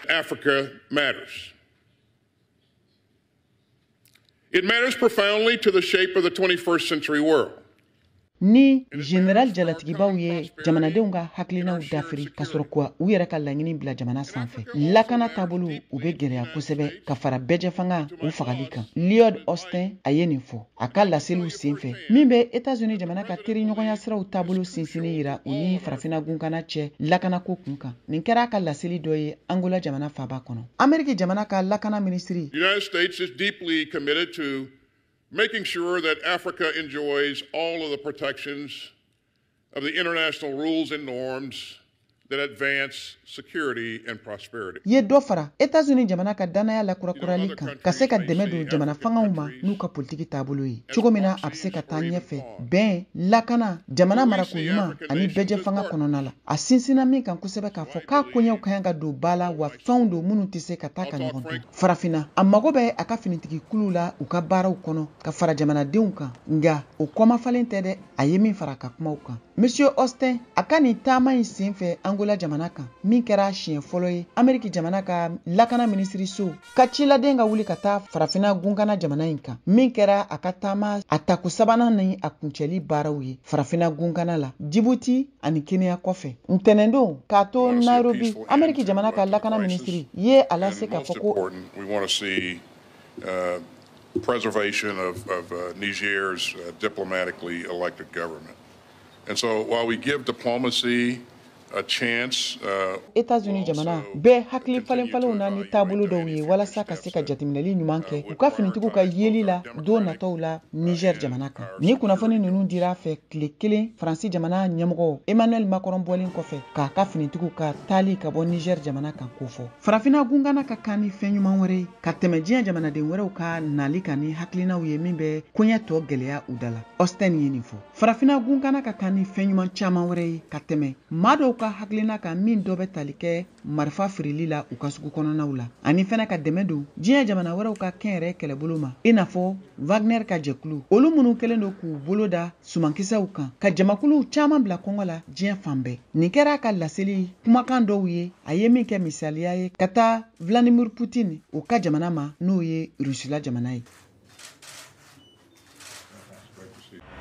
Africa matters. It matters profoundly to the shape of the 21st century world. ni general jalatigibaw ye jamanadenw ka hakilinaw dafiri ka sɔrɔ ka u yɛrɛ ka laɲini bila jamana sanfɛ lakana taabolow bɛ gɛlɛya kosɛbɛ ka fara bɛɛjɛfanga u fagali kan lloyd austin a ye nin fɔ a ka laseliw senfɛ min bɛ etazini jamana ka teriɲɔgɔnya siraw taabolo sinsinni yira u ni farafina gunkana cɛ lakanako kun kan nin kɛra a ka laseli dɔ ye angola jamana faaba kɔnɔ ameriki jamana ka lakana minisiri The United States is deeply committed to making sure that Africa enjoys all of the protections of the international rules and norms that advance security and prosperity. ye dɔ fara Etats-Unis jamana ka danaya lakurakurali kan ka se ka dɛmɛ don jamana fangaw ma n'u ka politiki taabolo ye cogo min na a bɛ se ka taa ɲɛfɛ bɛn lakana jamana marako ɲuman ani bɛɛjɛ fanga kɔnɔna la a sinsinna min kan kosɛbɛ k'a fɔ k'a koɲɛw ka kan ka don ba la wa fɛnw don minnu tɛ se ka taa ka ɲɔgɔn to farafinna a mago bɛ a ka finitigikuluw la u ka baaraw kɔnɔ ka fara jamanadenw kan nka o kɔmafalen tɛ dɛ a ye min fara a ka kumaw kan monsieur austin a ka nin taama in sen fɛ angola jamana kan min kɛra a siɲɛ fɔlɔ ye ameriki jamana ka lakana minisiriso ka ciladen ka wuli ka taa farafina gunkana jamana in kan min kɛra a ka taama a tako sabanan ni a kuncɛli baaraw ye farafina gunkana la jibuti ani kenya kɔfɛ ntɛnɛndon k'a to nairobi ameriki jamana ka lakana minisiri ye a lase k'a fɔ ko uh, preservation of, of uh, Niger's uh, diplomatically elected government. And so while we give diplomacy a chance, Etats-Unis jamana bɛ hakili falenfalenw na ni taabolo dɔw ye walasa ka se ka jateminɛli ɲuman kɛ u ka finitigiw ka yeli la don nataw la Niger jamana kan. Nin kunnafoni ninnu dir'a fɛ tile kelen Faransi jamana ɲɛmɔgɔ Emmanuel Macron bɔlen kɔfɛ k'a ka finitigiw ka taali ka bɔ Niger jamana kan kofɔ. farafina gunkana ka kan ni fɛn ɲuman wɛrɛ ye ka tɛmɛ diɲɛ jamanaden wɛrɛw ka nali kan ni hakilinaw ye min bɛ koɲɛ tɔ gɛlɛya u da la austin ye nin fɔ farafina gunkana ka kan ni fɛn ɲuman caaman wɛrɛ ye ka tɛmɛ maa dɔw ka hakilina kan min dɔ bɛ tali kɛ marifa feereli la u ka sugu kɔnɔnaw la ani fɛnɛ ka dɛmɛ don diɲɛ jamana wɛrɛw ka kɛnyɛrɛ kɛlɛbolo ma i n'a fɔ wagner ka jɛkulu olu minnu kɛlen don k'u bolo da sumankisɛw kan ka jamakuluw caman bila kɔngɔ la diɲɛ fan bɛɛ nin kɛra a ka laseli kumakan dɔw ye a ye min kɛ misaliya ye ka taa vladimir putin o ka jamana ma n'o ye rusila jamana ye